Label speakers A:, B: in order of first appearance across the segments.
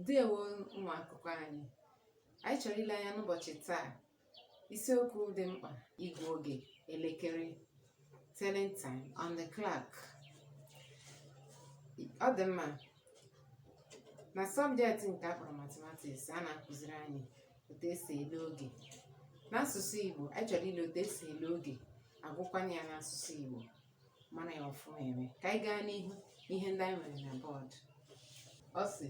A: ndewo ụmụ akwụkwọ anyị anyị chọrọ ile anya n'ụbọchị taa isiokwu dị mkpa ịgwa oge elekere telling time on the clock ọ dị mma na sọbjekti nke a kpọrọ matematiks a na-akụziri anyị otu esi ele oge n'asụsụ igbo anyị chọrọ ile otu esi ele oge agụkwanụ ya n'asụsụ igbo mara ya ọfụma eme ka anyị gaa n'ihu ihe ndị anyị nwere na bọọdụ ọ sị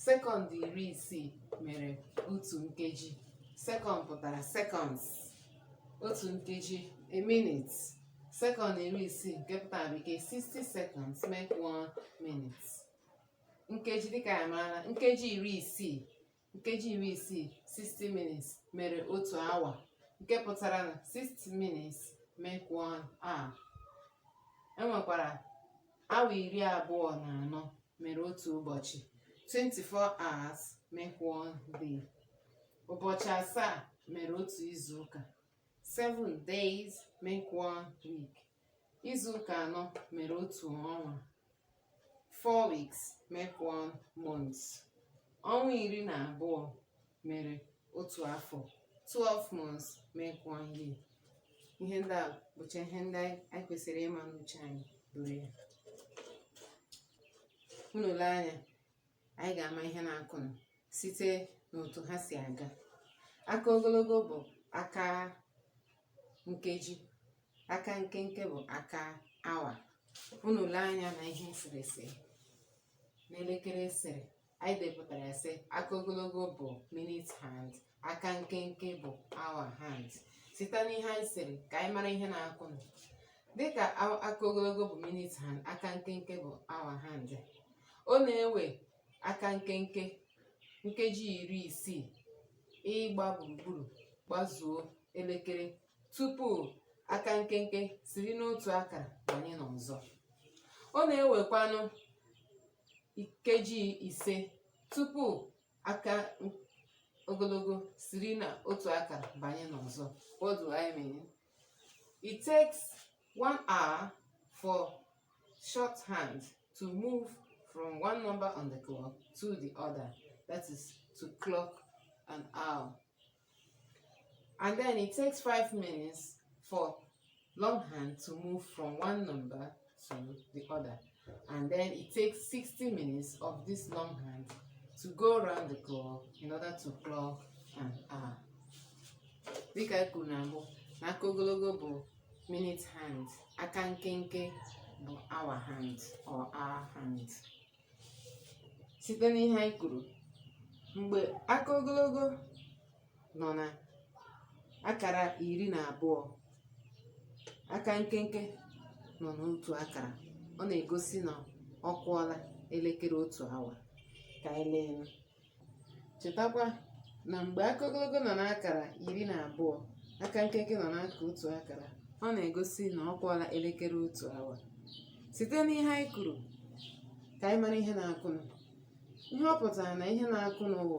A: sekọnd iri isii mere otu nkeji sekọnd pụtara sekọnds otu nkeji a minute sekọnd iri isii nke pụtara bekee 60 seconds make one minute nkeji dịka anyị maara nkeji iri isii nkeji iri isii 60 minutes mere otu awa nke pụtara na 60 minutes make one hour e nwekwara awa iri abụọ na anọ mere otu ụbọchị 24 hours make one day ụbọchị asaa mere otu izu ụka Seven days make one week. Izu ụka anọ mere otu ọnwa. Four weeks make one month. Ọnwa iri na abụọ mere otu afọ. Twelve months make one year. Ihe ndị a bụcha ihe ndị anyị kwesịrị ịma n'uche anyị buru ya. Unu lee anya anyị ga-ama ihe na-akụnụ site n'otu ha si aga aka ogologo bụ aka nkeji aka nkenke bụ aka awa unu lee anya na ihe eserese n'elekere e sere anyị depụtara sị aka ogologo bụ minute hand aka nkenke bụ hour hand site n'ihe anyị sere ka anyị mara ihe na-akụ nụ dịka a- aka ogologo bụ minute hand aka nkenke bụ hour hand ọ na-ewe aka nkenke nkeji iri isii ịgba gburugburu gbazuo elekere tupu aka nkenke siri n'otu akara banye n'ọzọ ọ na-ewekwanụ nkeji ise tupu aka ogologo siri na otu aka banye n'ọzọ what do i mean it takes one hour for short hand to move from one number on the clock to the other that is to clock an hour and then it takes five minutes for long hand to move from one number to the other and then it takes 60 minutes of this long hand to go around the clock in order to clock an hour dịka e kwuru na mbụ na aka ogologo bụ minute hand aka nkenke bụ hour hand or hour hand site n'ihe anyị kwuru mgbe aka ogologo nọ na akara iri na abụọ aka nkenke nọ n'otu akara ọ na-egosi na ọ kụọla elekere otu awa ka anyị lee Chetakwa na mgbe aka ogologo nọ n'akara iri na abụọ, aka nkenke nọ n'aka otu akara, ọ na-egosi na ọ kụọla elekere otu awa. Site n'ihe anyị kwuru, ka anyị mara ihe na-akụnụ. Ihe ọ pụtara na ihe na-akụnụ wụ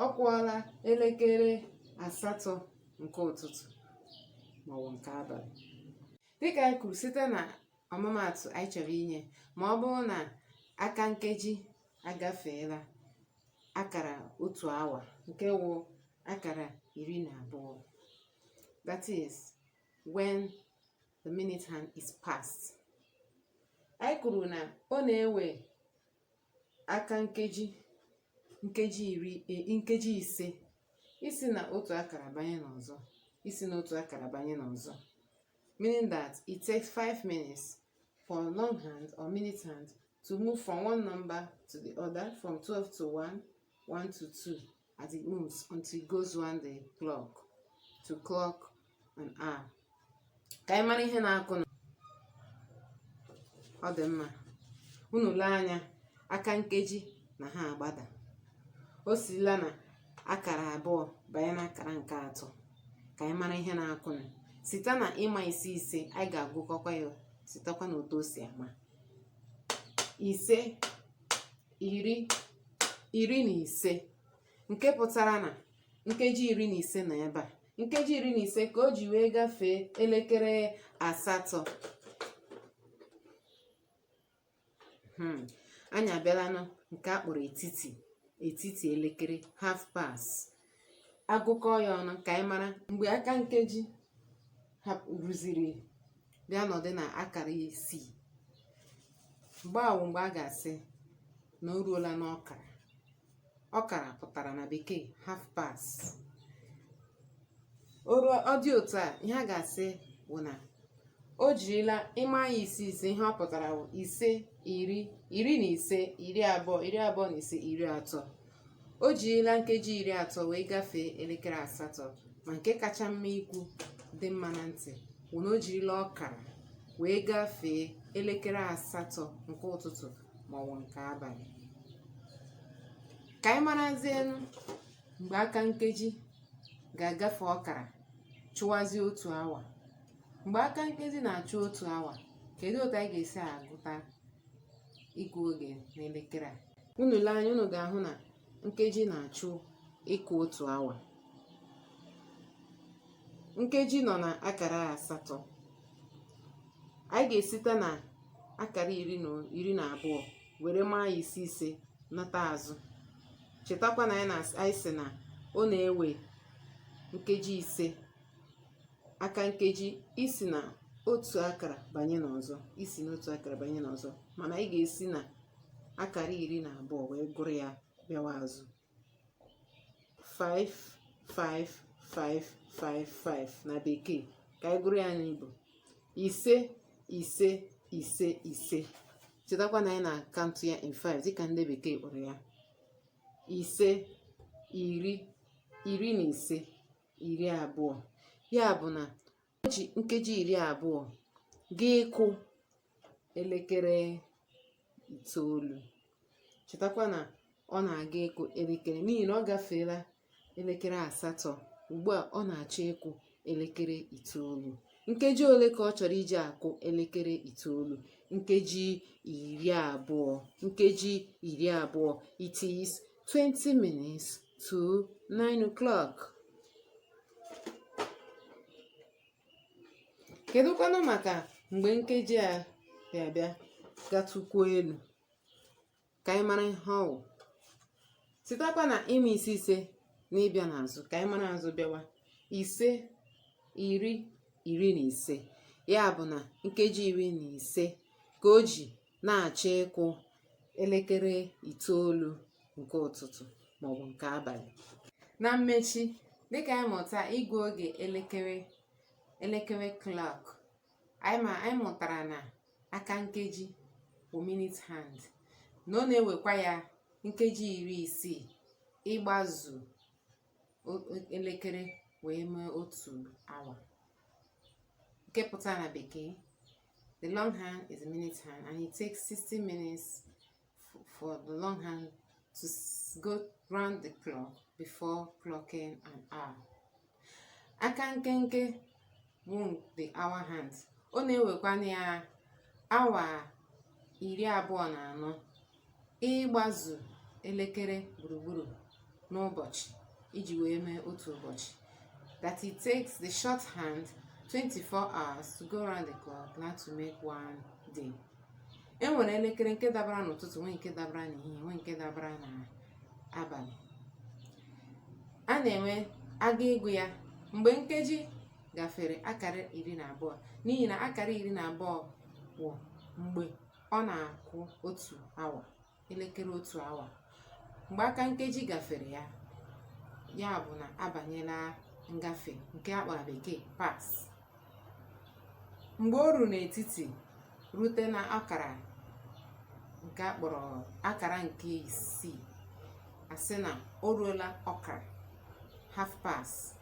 A: ọ kụọla elekere asatọ nke ụtụtụ maọbụ nke abalị. Dịka anyị kwuru site na ọmụmaatụ anyị chọrọ inye, ma ọ bụrụ na aka nkeji agafeela akara otu awa nke wụ akara iri na abụọ that is when the minute hand is past anyị kwuru na ọ na-ewe aka nkeji nkeji iri e, nkeji ise isi na otu akara banye n'ọzọ isi na otu akara banye n'ọzọ meaning that it takes 5 minutes for long hand or minute hand to move from one number to the other, from 12 to 1, 1 to 2, as it moves until it goes around the clock, to clock an hour. Ka anyị mara ihe na-akụnụ ọ dị mma unu lee anya aka nkeji na ha agbada o sila na akara abụọ banye na akara nke atọ ka anyị mara ihe na-akụnụ site na ịma ise ise anyị ga-agụkọkwa ya sitekwa na otu o si ama ise iri iri na ise nke pụtara na nkeji iri na ise na ebe a nkeji iri na ise ka o ji wee gafee elekere asatọ hmm. anyị abịalanụ nke a kpọrọ etiti etiti elekere half past agụkọ ya ọnụ ka anyị mara mgbe aka nkeji ruziri bịa nọdụ na akara isii mgbe a wụ mgbe a ga-asị na o ruola n'ọkara ọkara pụtara na bekee half past ọ dị otu a ihe a ga-asị wụ na o jirila ịma ya ise ise ihe ọ pụtara bụ ise iri iri na ise iri abụọ iri abụọ na ise iri atọ o jirila nkeji iri atọ wee gafee elekere asatọ ma nke kacha mma ikwu dị mma na ntị wụ na o jirila ọkara wee gafee elekere asatọ nke ụtụtụ maọbụ nke abalị ka anyị marazienụ mgbe aka nkeji ga-agafe ọkara chụwazie otu awa mgbe aka nkeji na-achụ otu awa kedu otu anyị ga-esi agụta ịgụ oge n'elekere a unu lee anya unu ga-ahụ na nkeji na-achọ ịkụ otu awa nkeji nọ na akara asatọ anyị ga-esite na akara iri na abụọ were maa ya ise ise nata azụ chetakwa na anyị sị na ọ na-ewe nkeji ise aka nkeji isi na otu akara banye n'ọzọ isi n'otu akara banye n'ọzọ mana anyị ga-esi na akara iri na abụọ wee gụrụ ya bịawa azụ 5 5 5 5 5 na bekee ka anyị gụrụ ya n'Igbo ise ise ise ise chetakwa na anyị na-akantụ ya in 5 dịka ndị bekee kpọrọ ya ise iri iri na ise iri abụọ ya bụ na o ji nkeji iri abụọ ga ịkụ elekere itoolu chetakwa na ọ na-aga ịkụ elekere n'ihi na ọ gafeela elekere asatọ ugbu a ọ na-achọ ịkụ elekere itoolu nkeji ole ka ọ chọrọ iji akụ elekere itoolu nkeji iri abụọ nkeji iri abụọ it is 20 minutes to 9 o'clock. Kedụkwanụ maka mgbe nkeji a bịa bịa gatụkwuo elu ka anyị mara ihe ọ wụ sitakwa na ịma ise ise na ịbịa n'azụ ka anyị mara azụ bịawa ise iri iri na ise ya bụ na nkeji iri na ise ka o ji na-achọ ịkụ elekere itoolu nke ụtụtụ maọbụ nke abalị na mmechi dịka anyị mụtara ịgụ oge elekere elekere clock anyị ma anyị mụtara na aka nkeji wụ minute hand na ọ na-ewekwa ya nkeji iri isii ịgbazu elekere wee mee otu awa nke pụtara na bekee The long hand is a minute hand, and it takes 60 minutes for the long hand to go round the clock before clocking an hour. Aka nkenke wụ the hour hand. Ọ na-ewekwa ya awa iri abụọ na anọ ịgbazu elekere gburugburu n'ụbọchị iji wee mee otu ụbọchị that it takes the short hand 24 hours to go around the clock na to make one day e nwere elekere nke dabara n'ụtụtụ nwee nke dabara n'ehihie nwee nke dabara n'abalị a na-enwe aga ịgụ ya mgbe nkeji gafere akara iri na abụọ n'ihi na akara iri na abụọ wụ mgbe Ọ na-akụ otu awa, elekere otu awa. Mgbe aka nkeji gafere ya, ya bụ na abanyela ngafe nke a kpọrọ bekee past. Mgbe o ruru n'etiti rute na akara nke a kpọrọ akara nke isii, a sị na o ruola ọkara half past.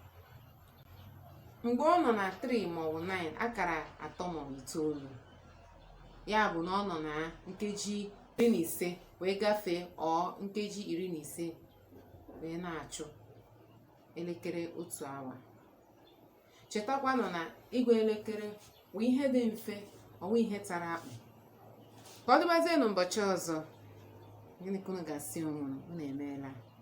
A: Mgbe ọ nọ na 3 maọbụ 9 akara atọ maọbụ itoolu, ya bụ na ọ nọ na nkeji iri na ise wee gafee or nkeji iri na ise wee na-achụ elekere otu awa chetakwanụ na ịgwa elekere bụ ihe dị mfe ọ wụghị ihe tara akpụ ka ọ dịbazie n'ụbọchị ọzọ gịnị ka unu ga-asị onwe unu emeela